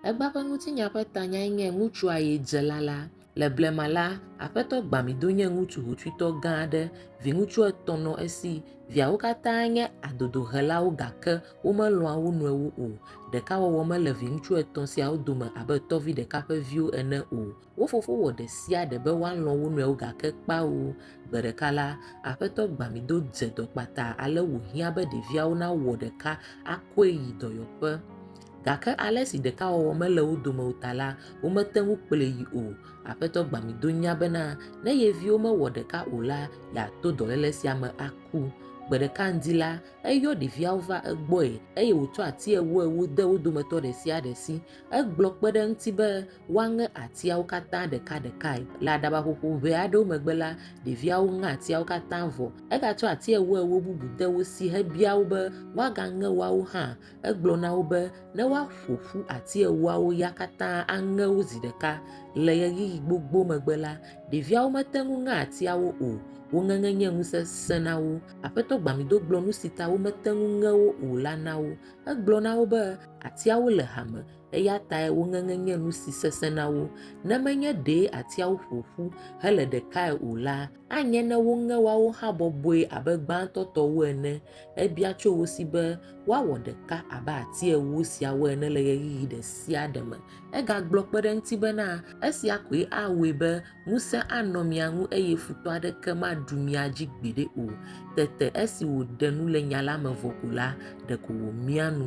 Egbea ƒe ŋutinya ƒe tanyae nye Ŋutsua Ye Dze Lala. Le blema la, Aƒetɔ gbã mi do nye ŋutsu hotsuitɔ gã aɖe. Viŋutsu etɔ̃ nɔ esi. Viawo katã nye adodohelawo gake womelɔ̃a wo nɔewo o. Ɖekawɔwɔ mele viŋutsu etɔ̃ siawo dome abe tɔvi ɖeka ƒe viwo ene o. Wo fofo wɔ ɖe sia ɖe be woalɔ̃ wo nɔewo gake kpao, gbe ɖeka la, Aƒetɔ Gbamido dze dɔ kpata ale wòhiã be ɖeviawo nawɔ ɖeka akɔe yi dɔyɔƒe. Gake ale si ɖekawɔwɔ mele wo dome o ta la, womete ŋu kplɔe yi o. Aƒetɔ Gbamido nya bena ne ye viwo mewɔ ɖeka o la, yeato dɔléle sia me aku. Gbe ɖeka ŋdi la, eyɔ ɖeviawo va egbɔe eye wòtsɔ ati ewoewo de wo dometɔ ɖe sia ɖe si. Egblɔ kpe ɖe eŋuti be Woaŋe atiawo katã ɖekaɖekae. Le aɖabaƒoƒo ʋɛ aɖewo megbe la, ɖeviawo ŋe atiawo katã vɔ. Egatsɔ ati ewoewo bubu de wo si hebia wo be woagaŋe woawo hã. Egblɔ na wo be ne woaƒo ƒu ati ewoawo ya katã aŋe wo zi ɖeka. Le ɣeyiɣi gbogbo megbe la, ɖeviawo mete ŋu ŋe atiawo o. Wo ŋeŋe nye nu sesẽ na wo. Aƒetɔ Gbamido gblɔ nu si ta womete ŋu ŋe wo o la na wo. Egblɔ na wo be atiawo le hame eya tae woŋeŋe nye nu si sesẽ na wo. Ne menye ɖe atiawo ƒo ƒu hele ɖekae o la, anye ne woŋe woawo hã bɔbɔe abe gbãtɔ tɔwo ene. Ebia tso wo si be woawɔ ɖeka abe ati ewo siawo ene le ɣeyiɣi ɖe sia ɖe me. Egagblɔ kpe ɖe eŋuti bena, Esia koe awɔe be ŋusẽ anɔ mia ŋu eye futɔ aɖeke maɖu mia dzi gbeɖe o. Tete esi wòɖe nu le nya la me vɔ ko la, ɖeko wòmia nu.